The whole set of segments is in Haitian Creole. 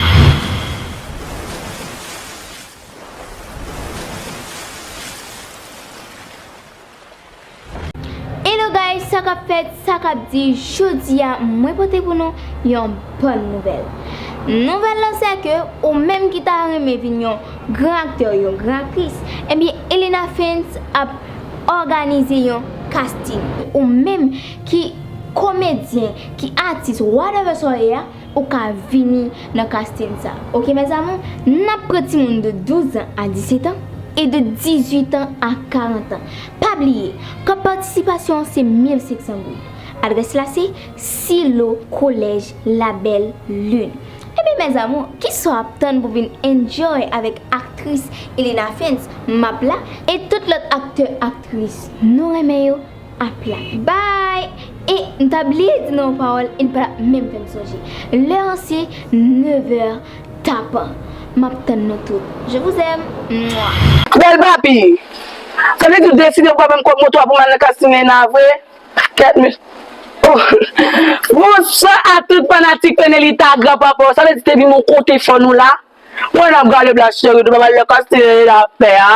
Hello guys sa kap fèt sa kap di jodi a mwen pote pou nou yon bòn nouvèl nouvèl lan se ke ou menm ki ta renmen vin yon gran aktè yon gran aktris ebyen Elena Fens ap òganize yon casting pou ou menm ki komedyen ki atis whatever sa w ye a. Ou ka vini nan casting sa ok mes amour nap pran ti moun de 12 ans a 17 ans et de 18 ans a 40 ans pa bliye kòb patisipasyon an se 1500 goud adrès la se silo kolèj la belle lune ebyen mes amour kisa w ap tann pou vin enjoy avèk aktris Elena Fentz map la et tout lòt aktè aktris nou renmen yo. ap la. Bay! E, m ta bliye di nou yon pawòl e n pa tap menm fè m sonje. Lè an se nevè tapan. M ap tann nou tout. Je vous aime! Mwa! Bèl papi! Sa vle di w deside w pa ban m kòb moto a pou m al nan Casting Neyna vre? Kèt men Ohh Bonswa a tout fanatik Pènelita ak gran papa w Sa vle di te vin bon kote fò nou la? Mwen nan galeb la cheri nou pa wè lè kastye e la ap fè a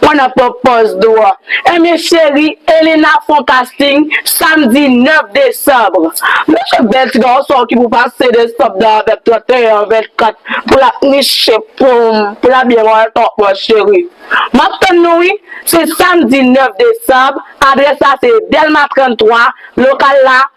mwen nan pran pòz nou an ebyen cheri Elena fon kasting samdi 9 desanbre mesye bèl ti gason ki pou pase desanb nan avèm 31 an 24 pou la niche poum pou la byen wè kòk mwen cheri map tann nou wi se samdi 9 desanb adrès la se delma 33 lokal la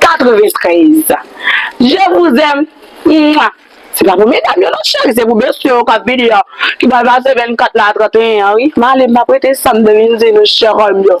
93 je vous aime mouah se pa pou medam yo non cheri se pou mesye yo kap vini yo ki pral pase 24 la a 31 an wi male map rete sam te vin di nou cherim yo.